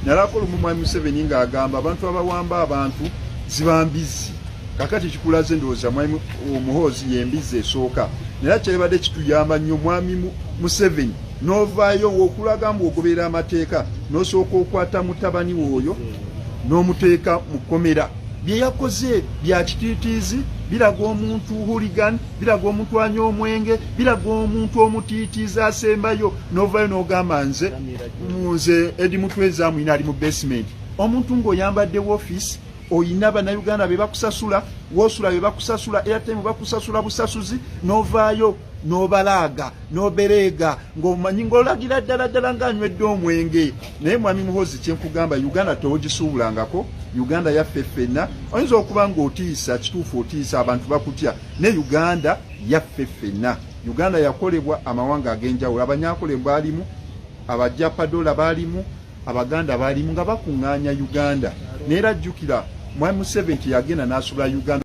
Nalako lumu Mwami Museveni nga agamba abantu abawamba abantu zibambizi kakati kikulaze ndowooza Mwami Omuhoozi yembizi esooka nera kyebadde kituyamba nnyo Mwami Museveni novaayo wokulaga mbu ogoberera amateeka nosooka okwata mutabani wooyo nomuteeka mu komera byeyakoze bya kitiitiizi biraga omuntu huligan biraga omuntu anya omwenge biraga omuntu omutiitiizi asembayo novayo nogamba nze nze edi mutwe ezaamu ina ali mu basement omuntu ng'oyambadde wofiisi oyina bannayuganda be bakusasula wosula be bakusasula airtime bakusasula busasuzi n'ovaayo n'obalaaga n'obereega ng'omanyi ng'olagira ddala ddala ng'anywedde omwenge naye mwami muhozi kyenkugamba uganda tewogisuubulangako uganda yaffe ffenna oyinza okuba ng'otiisa kituufu otiisa abantu bakutya ne uganda yaffe ffenna Uganda yakolebwa amawanga ag'enjawulo, Abanyakole baalimu, Abajapadola baalimu, Abaganda baalimu nga bakuŋŋaanya Uganda. Naye era jjukira Mwami Museveni teyagenda n'asubula Uganda.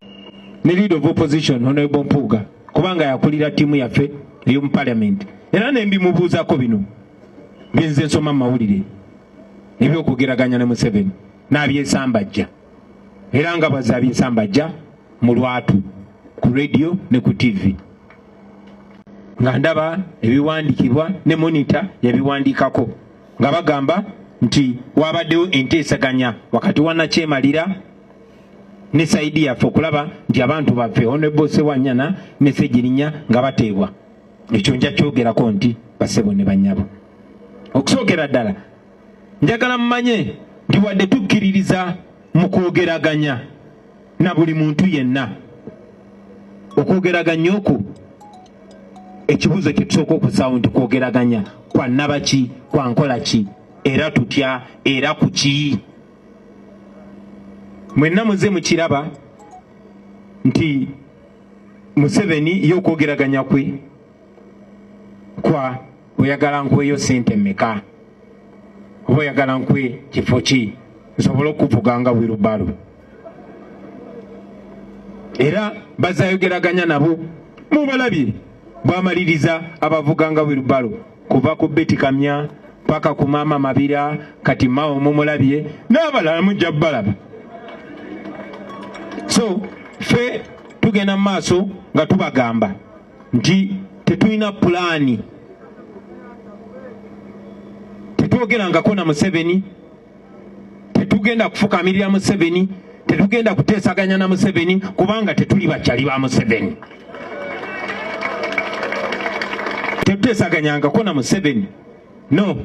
Ne leader of opposition Honorable Mpuuga kubanga yakulira ttiimu yaffe ey'omu parliament era ne mbimubuuzako bino bye nze nsoma mu mawulire ebyokugeraganya ne Museveni n'abyesambajja era nga bwazze abyesambajja mu lwatu ku radio ne ku tv nga ndaba ebiwandikibwa ne monita yabiwandikako nga bagamba nti wabaddewo enteesaganya wakati wa nakyemalira ne saidi yaffe okulaba nti abantu baffe onebo sewanyana ne segirinya nga bateebwa ekyo nja kyogerako nti basebo ne banyabo okusookera ddala njagala mumanye nti wadde tukkiririza mu kwogeraganya na buli muntu yenna okwogeraganya okwo ekibuuzo kyetusooka okusaawo nti kwogeraganya kwa nabaki kwa nkola ki era tutya era ku ki mwenna muze mukiraba nti museveni ye okwogeraganya kwe kwa oyagala nkweyo sente meka oba oyagala nkwe kifo ki nsobole okuvuga nga wirubalo era bazayogeraganya nabo mubalabye bwamaliriza abavuga nga wilbalo kuva ku betikamya paka ku maama mabira kati mawo mumulabye n'abalala mujja balaba so fe tugenda mu maaso nga tubagamba nti tetulina pulaani tetwogerangako na museveni tetugenda kufukamirira museveni tetugenda kuteesaganya na museveni kubanga tetuli bakyali ba museveni tetuteesaganyangako na museveni no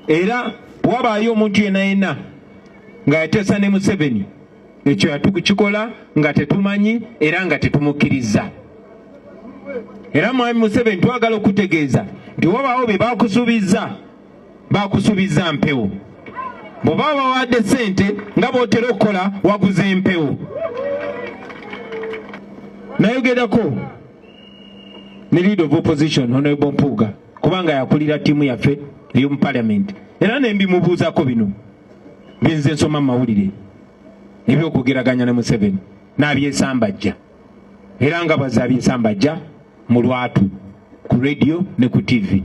era wabaayo omuntu yena yena nga yateesa ne museveni ekyo yatukikola nga tetumanyi era nga tetumukkiriza era mwami museveni twagala okutegeeza nti wabaawo bye bakusuubizza bakusubiza mpewo bw'oba wawadde ssente nga bw'otera okukola waguza empewo nayogerako ne leader of opposition honorable mpuuga kubanga yakulira ttiimu yaffe ey'omu parliament era ne mbimubuuzako bino byenze nsoma mu mawulire ebyokugeraganya ne museveni n'abyesambajja era nga baze abyesambajja mu lwatu ku radio ne ku tivi